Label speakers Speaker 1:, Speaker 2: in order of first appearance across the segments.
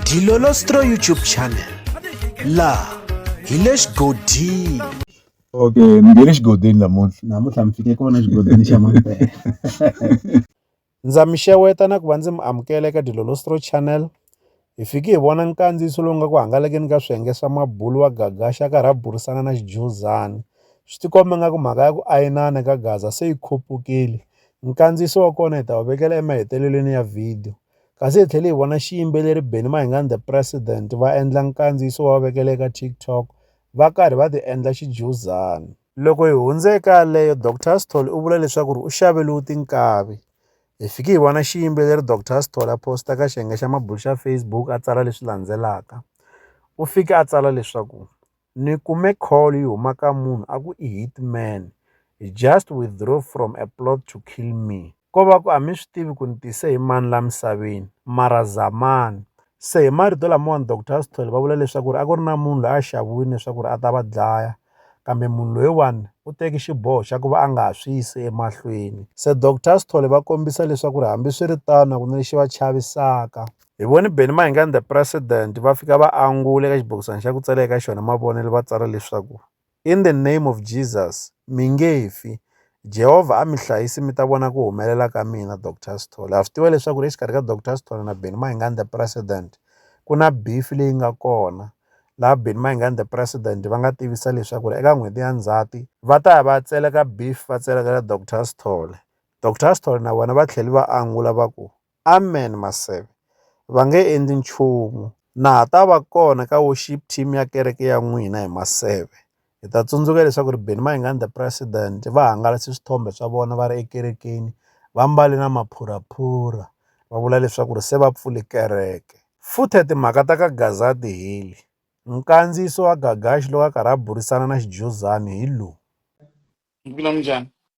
Speaker 1: Dilolostro YouTube channel laha hi le xigodini okay
Speaker 2: mi nge le xigodini namuntlha namuntlha mi fike kona xigodini xa mampela
Speaker 3: ndza mi xeweta na ku va ndzi mi amukela eka dilolostro channel hi fiki hi vona nkandziyiso lowu nga ku hangalakeni ka swiyenge swa mabulu wa gagaxa a karhi a burisana na xijuzani swi tikomba nga ku mhaka ya ku ayinana ka gaza se yi khupukile Nkandziyiso wa kona hi ta wu vekela emahetelelweni ya vhidiyo. Kasi hi tlhele hi vona xiyimbeleri Benny Mayengani The President va endla nkandziyiso va wu vekela eka TikTok va karhi va ti endla xijuzana. Loko hi hundze eka yaleyo, Doctor Sithole u vula leswaku ri u xaveriwe tinkavi. Hi fike hi vona xiyimbeleri Doctor Sithole a posta ka xiyenge xa mabulo xa Facebook a tsala leswi landzelaka, U fike a tsala leswaku. Ni kume call yi huma ka munhu a ku i hitman he just withdraw from a plot to kill me ko va ku a mi swi tivi ku ni tise hi mani la misaveni mara zamani se hi marito lamawani doctor Sithole va vula leswaku ri a ku ri na munhu loyi a xaviwini leswaku ri a ta va dlaya kambe munhu loyiwani u teki xiboho xa ku va a nga ha swi yisi emahlweni se doctor Sithole va kombisa leswaku ri hambiswiritano a ku na lexi va chavisaka. Hi vone Benny Mayengani the President va fika va angula eka xibokisana xa ku tsala eka xona mavonelo va tsala leswaku in the name of Jesus mi nge fi Jehovha a mi hlayisi mi ta vona ku humelela ka mina Dr Sithole ha swi tiva leswaku ri exikarhi ka Dr Sithole na Benny Mayengani the President ku na beef leyi nga kona laha Benny Mayengani the President va nga tivisa leswaku ri eka n'hweti ya Ndzhati va ta ya va tseleka beef va tselekela Dr Sithole Dr Sithole na vona va tlhela va angula va ku Amen Maseve. Va nge endli nchumu. Na ha ta va kona ka worship team ya kereke ya n'wina hi Maseve. Hi ta tsundzuka leswaku ri Benny Mayengani the president va hangalase swithombe swa vona va ri ekerekeni va mbale na maphuraphura va vula leswaku ri se va pfule kereke. Futhe timhaka ta ka Gazadi hi le. Nkandziyiso wa Gagaxi loko a karhi a burisana na Xijuzani hi lowu.
Speaker 4: Mbulan'winjhani.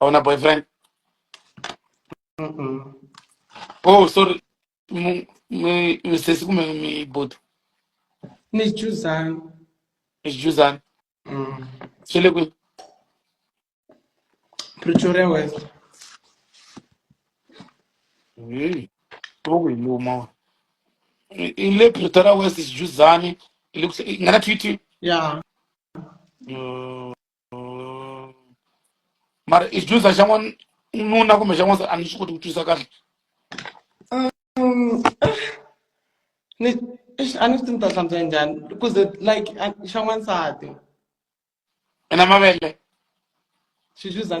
Speaker 4: Ako na boyfriend. Mm-mm.
Speaker 5: Oh,
Speaker 4: sorry. M- mi- Misisi kumbe mi buti. Ni
Speaker 5: chuzani.
Speaker 4: Juzan. Mm. Swi le kwihi?
Speaker 5: Pretoria West.
Speaker 4: Hey, Loko hi luma. wa. I i le Pretoria West Juzani. I le ku- i nga na Twitter. Yeah. Uh, mara ijuza xan'wana nuna kumbe xan'wana a ni swi koti ku twisisa kahle um,
Speaker 5: ni a ni swi ti ni ta hlantswa njhani because like xa n'wansati
Speaker 4: ena mavele
Speaker 5: xijuza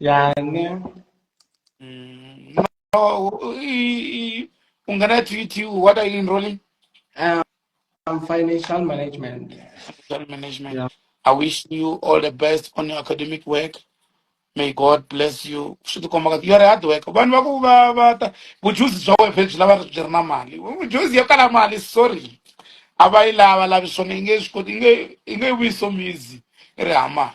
Speaker 4: yani
Speaker 5: mm, no, i,
Speaker 4: ungana TTU what are you enrolling um, um, financial
Speaker 5: management financial management
Speaker 4: yeah. I wish
Speaker 5: you
Speaker 4: all the best on your academic work may God bless you swi ti komba you are hard work vanhu va ku va va ta vujuzi bya wena phela byi lava byi ri na mali vujuzi yo kala mali sorry a va yi lava lavi swona yi nge swi koti yi nge yi nge yi vuyi somizi ri hama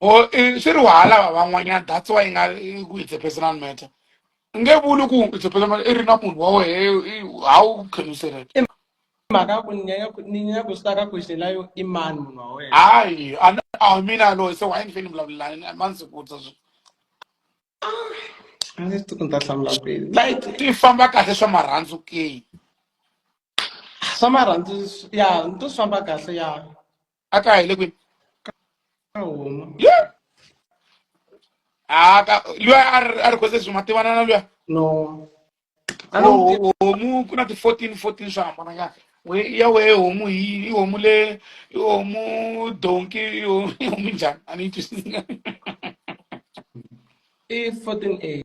Speaker 5: or eh,
Speaker 4: swi ri wahalava van'wanyana that's why yi nga yi ku it's a personal matter u nge vuli ku it's a personal matter i ri na munhu wa wehe i- how can you say that i mhaka ya ku
Speaker 5: ni nyanya ku- ni nyanya ku swi taka question layo i mani munhu wa wena hayi a ni-
Speaker 4: a mina loyi se why ni feni vulavulelani a ma ndzi vutisa swi a ndzi
Speaker 5: tiku ni ta hlamula kwini
Speaker 4: like
Speaker 5: ti
Speaker 4: famba
Speaker 5: kahle
Speaker 4: swa
Speaker 5: marhandzu ke swa marhandzu swi- ya ni to swi famba kahle ya a ka hile kwini
Speaker 4: Yeah. Ah, ka- luya a ri- a ri khose sweswi ma tivana na luya no
Speaker 5: a ni n'wi tivi. Ho- homu ku na ti-fourteen
Speaker 4: fourteen swo hambananyana We- ya wehe homu hi i homu le i homu donki i homu i homu njhani a ni yi twisisi
Speaker 5: i 14 a